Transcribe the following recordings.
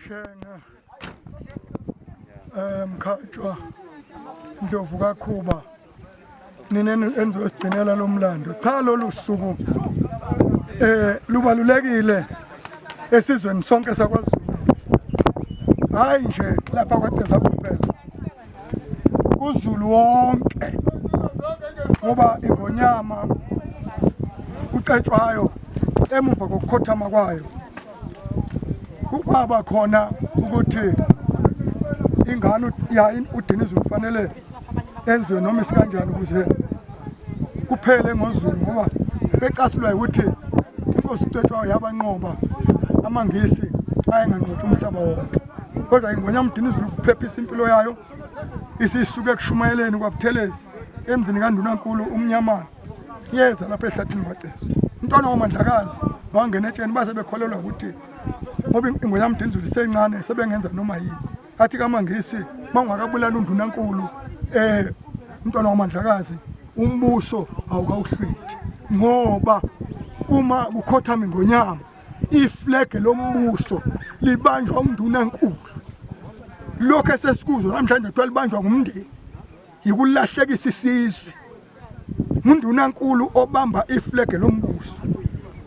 shenge eh, um mkhatshwa ndlovu kakhuba nina enizosigcinela lo mlando cha lolu suku eh lubalulekile esizweni sonke sakwazulu hayi nje lapha kwateza kuphela kuzulu wonke ngoba ingonyama ucetshwayo emuva kokukhothama kwayo kukwaba khona ukuthi ingane udinizwe kufanele enziwe noma isikanjani ukuze kuphele ngozulu ngoba becasulwa ukuthi inkosi ucetshwayo yabanqoba amangisi ayenganqotha umhlaba wonke kodwa ingwenya mdinizulu kuphephisa impilo yayo isisuke ekushumayeleni kwabuthelezi emzini kandunankulu umnyamana yeza lapha ehlathini kwaceso umntwana wamandlakazi wangena etsheni baze bekholelwa ukuthi ngoba ingo yami dinzulu isencane sebengenza noma yini athi kamangisi bangakabulala undunankulu eh umntwana wamandlakazi umbuso awukawuhlithi ngoba uma kukhothama ingonyama iflege lombuso libanjwa umndunankulu lokho esesikuzwa namhlanje kuthiwa libanjwa ngumndeni yikulahlekisa isizwe ngundunankulu obamba iflege lombuso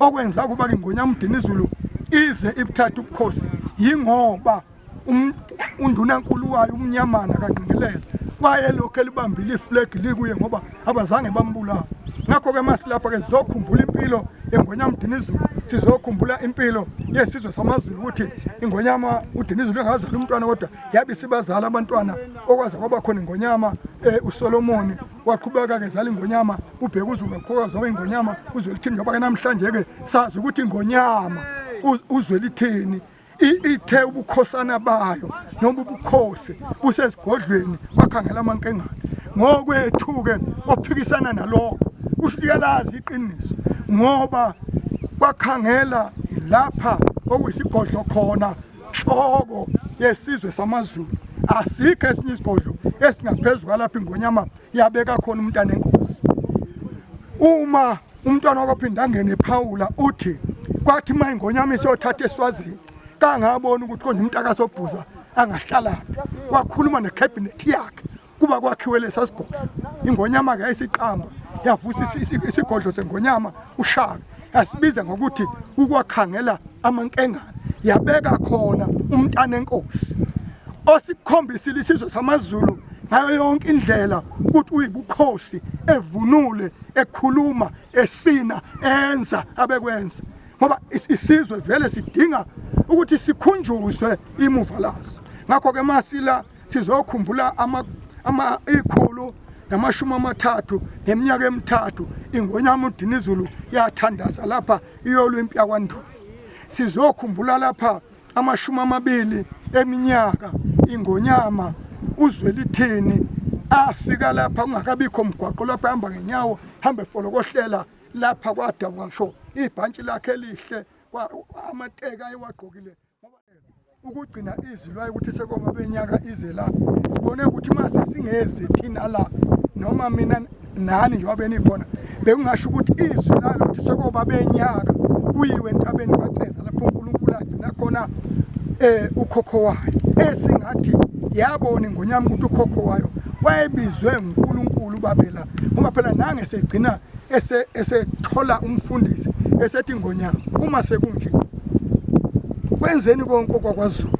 okwenza ukuba ingonya umdinizulu ize ibuthatha ubukhosi yingoba um, undunankulu wayo umnyamana kangqingelele wayelokhu elibambile iflegi likuye ngoba abazange bambulala ngakho-ke masilapha-ke sizokhumbula impilo yengonyama udinizulu sizokhumbula impilo yesizwe samazulu ukuthi ingonyama udinizulu engazali umntwana kodwa yabe isibazala abantwana okwaze kwaba khona ingonyama eh, uSolomoni waqhubeka ke zala ingonyama ubheka uzulu waqhubeka zaba ingonyama uzwe lithini ngoba ke namhlanje ke sazi ukuthi ingonyama uzwe lithini ithe ubukhosana bayo noma ubukhosi busesigodlweni bakhangela amankengane ngokwethu-ke ophikisana nalokho kusho ukuthi yalazi iqiniso ngoba bakhangela lapha okuyisigodlo khona Nhlobo yesizwe samaZulu asikho esinye isigodlo esingaphezulu kwalapha ingonyama yabeka khona umntana enkosi. Uma umntwana wakophinda angene ephawula uthi kwathi uma ingonyama isiyothatha eswazini kangabona ukuthi konje umntakasobhuza angahlalaphi wakhuluma ne-cabinet yakhe kuba kwakhiwe lesa sigodlo ingonyama ke yayisiqamba yavusa isigodlo sengonyama ushaka yasibiza ngokuthi ukwakhangela amankengane yabeka khona umntana enkosi osikhombisile isizwe samazulu ngayo yonke indlela ukuthi uyibukhosi evunule ekhuluma esina enza abekwenza ngoba isizwe vele sidinga ukuthi sikhunjuzwe imuva laso ngakho ke masila sizokhumbula ikhulu namashumi amathathu neminyaka emithathu ingonyama udinizulu yathandaza lapha iyolwimpi yakwandulo sizokhumbula lapha amashumi amabili eminyaka ingonyama uzwelithini afika lapha kungakabikho mgwaqo lapho ehamba ngenyawo hambe folokohlela lapha kwadabuka ngisho ibhantshi lakhe elihle amateka ayewagqokile ukugcina izwi lwayo ukuthi sekoba benyaka ize la sibone ukuthi uma sesingezi thina la noma mina nani njengoba benikhona bekungasho ukuthi izwi lalo ukuthi sekoba benyaka kuyiwe entabeni kwaceza lapho unkulunkulu agcina khona um ukhokho wayo esingathi yabona ingonyama ukuthi ukhokho wayo wayebizwe ngunkulunkulu ubabela ngoba phela nange segcina ese esethola umfundisi esethi ngonyama uma sekunje kwenzeni konke kwakwazulu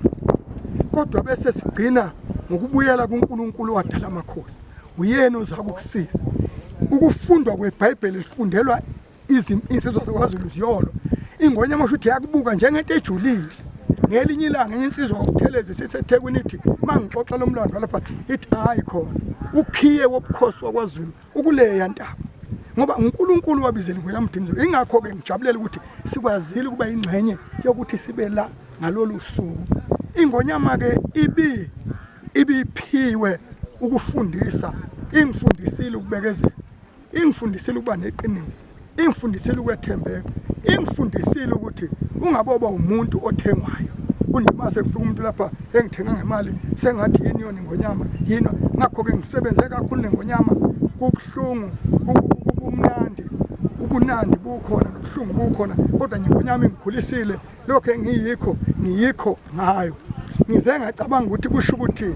kodwa bese sigcina ngokubuyela kuNkulunkulu wadala amakhosi uyena oza kukusiza ukufundwa kweBhayibheli lifundelwa izinsizwa zakwaZulu ziyolo ingonya amasho ukuthi yakubuka njengento ejulile ngelinye ilanga enye insizwa ngokuthelezi sisethekwini ithi uma ngixoxa lo mlando walapha ithi hhayi khona ukhiye wobukhosi wakwaZulu ukuleya ntaba ngoba uNkulunkulu wabizela kuya mdimizelo ingakho ke ngijabulela ukuthi sikwazile ukuba ingxenye yokuthi sibe la ngalolu suku ingonyama ke ibi ibiphiwe ukufundisa ingifundisile ukubekezela ingifundisile ukuba neqiniso ingifundisile ukwethembeka ingifundisile ukuthi ungaboba umuntu othengwayo kunoma sekufika umuntu lapha engithenga ngemali sengathi yini yona ingonyama yini ngakho-ke ngisebenze kakhulu nengonyama kubuhlungu kubumnandi ubunandi bukhona nobuhlungu bukhona kodwa ngingonyama ingikhulisile lokho engiyikho ngiyikho ngayo ngize ngacabanga ukuthi kusho ukuthi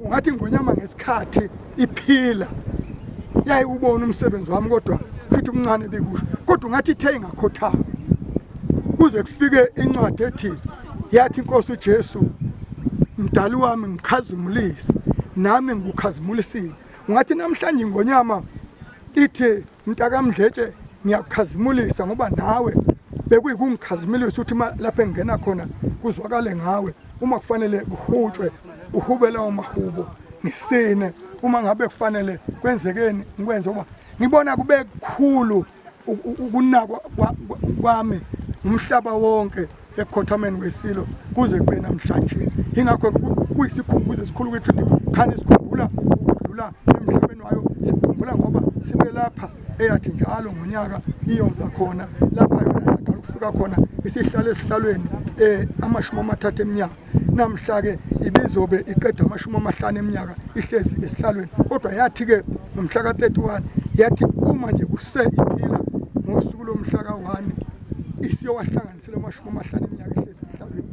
ungathi ngonyama ngesikhathi iphila yayiwubona umsebenzi wami kodwa futhi umncane bikusho kodwa ungathi ithe ingakhothama kuze kufike incwadi ethi yathi inkosi uJesu mdali wami ngikhazimulise nami ngikukhazimulisile ngathi namhlanje ingonyama ithi mntakamdletshe ngiyakukhazimulisa ngoba nawe bekuyikungikhazimulisa ukuthi lapho engingena khona kuzwakale ngawe uma kufanele kuhutshwe uhube lawo mahubo ngisine uma ngabe kufanele kwenzekeni ngikwenze ngoba ngibona kube kukhulu ukunakwa kwami umhlaba wonke ekhothameni wesilo kuze kube namhlanje ingakho kuyisikhumbuzo esikhulu ukuthi khani sikhumbula ukudlula emhlabeni wayo sikhumbula ngoba sibe lapha eyathi njalo ngonyaka iyoza khona lapha yona yaqala ukufika khona isihlale esihlalweni um amashumi amathathu eminyaka Namhla-ke ibizobe iqeda amashumi amahlanu eminyaka ihlezi esihlalweni kodwa yathi-ke ngomhla ka-31 yathi uma nje kuse iphila ngosuku lomhla ka-1 isiyowahlanganisela amashumi amahlanu eminyaka ihlezi esihlalweni